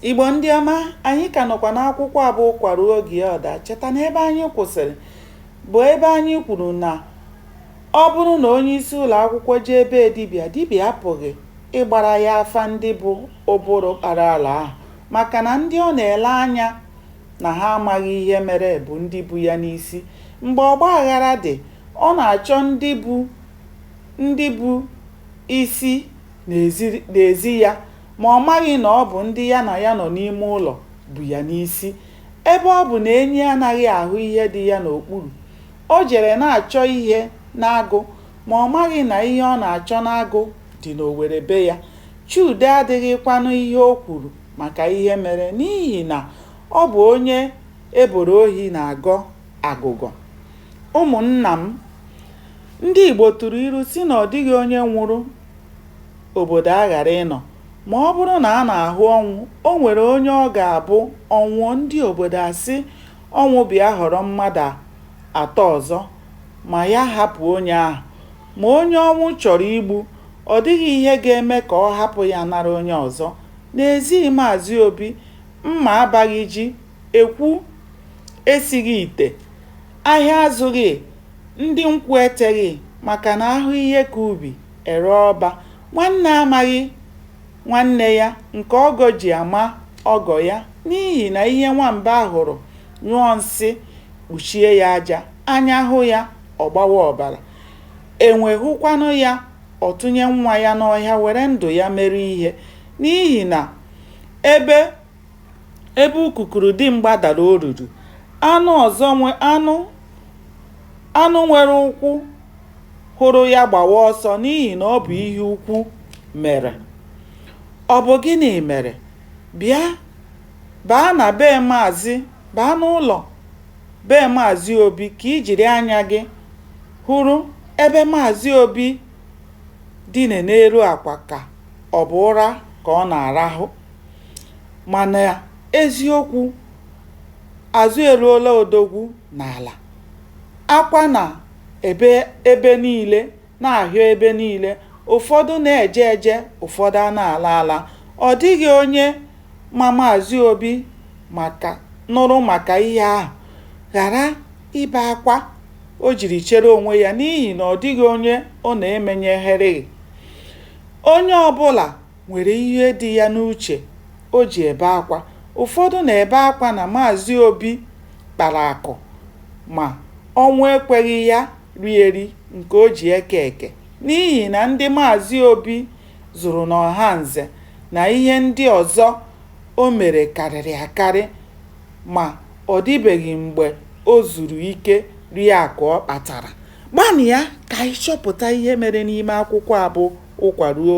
Igbo ndị ọma, anyị ka nọkwa n'akwụkwọ abụ ụkwa ruo oge ya ọ daa. Cheta na ebe anyị kwụsịrị bụ ebe anyị kwuru na ọ bụrụ na onye isi ụlọ akwụkwọ jee ebe dibịa, dibịa apụghị ịgbara ya afa ndị bụ ụbụrụ kpara ala ahụ maka na ndị ọ na-ele anya na ha amaghị ihe mere bụ ndị bu ya n'isi. Mgbe ọgba aghara dị, ọ na-achọ ndị bụ ndị bụ isi n'ezi ya Ma ọ maghị na ọ bụ ndị ya na ya nọ n'ime ụlọ bu ya n'isi. Ebe ọ bụ na enyi anaghị ahụ ihe dị ya n'okpuru, o jere na-achọ ihe n'agụ ma ọ maghị na ihe ọ na-achọ n'agụ dị n'owere be ya. Chude adịghịkwanụ ihe o kwuru maka ihe mere n'ihi na ọ bụ onye e boro ohi na-agọ agụgọ. Ụmụnna m, ndị Igbo tụrụ ilu sị na ọ dịghị onye nwụrụ obodo aghara ịnọ ma ọ bụrụ na a na-ahụ ọnwụ, o nwere onye ọ ga-abụ ọ nwụọ ndị obodo asị ọnwụ bịa họrọ mmadụ atọ ọzọ ma ya hapụ onye ahụ. Ma onye ọnwụ chọrọ igbu, ọ dịghị ihe ga-eme ka ọ hapụ ya nara onye ọzọ. N'ezi Maazị Obi, mma abaghị ji, ekwu esighị ite, ahịa azụghị, ndị nkwụ eteghị maka na a hụ ihe ka ubi. E ree ọba, nwanne amaghị nwanne ya nke ọgọ ji ama ọgọ ya n'ihi na ihe nwamba hụrụ nyụọ nsị kpuchie ya aja, anya hụ ya, ọ gbawa ọbara. Enwe hụkwanụ ya, ọ tụnye nwa ya n'ọhịa were ndụ ya mere ihe n'ihi na ebe ebe ukukuru dimgba dara oruru, anụ ọzọ nwe anụ anụ nwere ụkwụ hụrụ ya gbawa ọsọ n'ihi na ọ bụ ihe ukwu mere. Ọ bụ gịnị mere? Bịa baa na be Maazị baa n'ụlọ be Maazị Obi ka i jiri anya gị hụrụ ebe Maazị Obi dine n'elu akwa ka ọ bụ ụra ka ọ na-arahụ. Mana eziokwu azụ eruola odogwu n'ala. Akwa na-ebe ebe niile, na-ahịọ ebe niile, ụfọdụ na-eje eje, ụfọdụ ana-ala ala. Ọ dịghị onye ma Maazị Obi maka nụrụ maka ihe ahụ ghara ibe akwa o jiri chere onwe ya n'ihi na ọ dịghị onye ọ na-emenyereghị. Onye ọbụla nwere ihe dị ya n'uche o ji ebe akwa. Ụfọdụ na-ebe akwa na Maazị Obi kpara akụ ma ọnwụ ekweghị ya rie eri nke o ji eke eke n'ihi na ndị Maazị Obi zụrụ n'Ọhanze na ihe ndị ọzọ o mere karịrị akarị ma ọ dịbeghị mgbe o zuru ike rie akụ ọ kpatara. Gbanịa ka anyị chọpụta ihe mere n'ime akwụkwọ a bụ Ụkwa Ruo